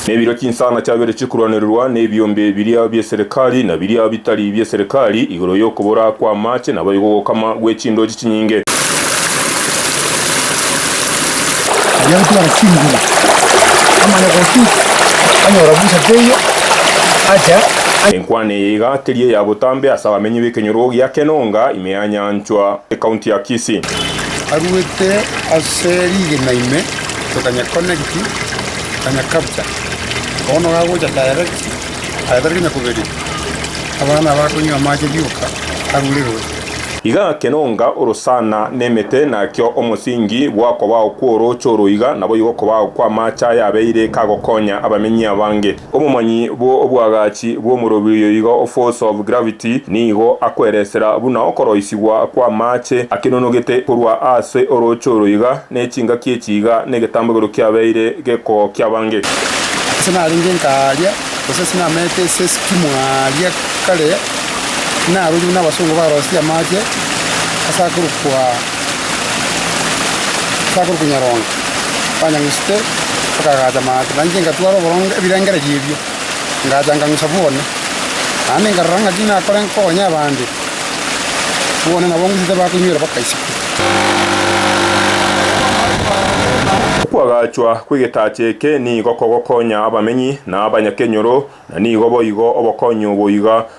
Na ebiira chinsana chiabeire chikorwanererwa nebiombe biria bi'eserekari na biria bitari bi'eserekari, igoro y'okobora kw'amaache, naboigo ogokama gwe chindooche chinyinge. Agotwara chinguru amanya gotu anyora busa teiyo acha. Enkwana eye iga teri eya botambe ase abamenyi b'ekenyoro gia Kenonga, ime ya nyanchwa, ecounty ya Kisii. Aruete ase rigena ime tokanyekonekti, tokanyekabcha. Bono gagocha tayarekti, tayatareti onye kobere. Abana aba bakonywa amache rioka arure roche. Iga kenonga orosana nemete, nakio omosingi bw'akobao kw'orooche oro iga naboigo okobao kw'amache ayabeire kagokonya abamenyi abange. Omomanyi bwo obwagachi bw'omorobi oyo iga o force of gravity nigo akweresera buna okoroisigwa kw'amaache akenonogete korwa aase orooche oro iga nechingaki echi iga negetambegero kiabeire geko kiabange. Ase narenge nkaaria, gose ase namaete ase esiki mwaaria kare, narorire buna abasongo barosetie amaache ase akorokwa. Bakorwa Kunyaronga, banyang'usete, bakagacha amato, na inche ngatwara oboronge ebirengererio ebio, ngacha ngang'usa bwone, naende nkarora ng'aki nakore nkonye abande. Bwone nabo ngusete bakonywera bakaiseka. Okwagachwa kw'egetacha eke nigo kogokonya abamenyi na abanyakenyoro, na nigo boigo obokonyi obo iga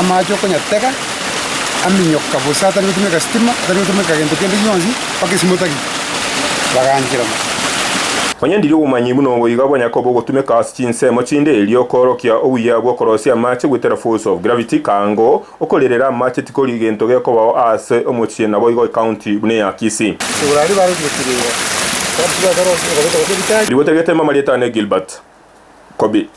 amache okonyatega, aminyoka bosa atari gotumeka sitima, atari gotumeka gento kende gionsi, mpaka esimo otagete, baganchera mono. Onye ndiri obomanyi buna obo iga bonya koba ogotumeka ase chinsemo chinde, erio koorokia obuya bw'okorosia amache goetera force of gravity, kaango, okorerera amache tikori gento gekobao aase omochie naboigo ecounty buna eya Kisii. Asegura aria barogotire iga, Gabs Gakorosia okabekwa gose ebitari. Rigote rigetema amarieta ane Gilbert Kobi.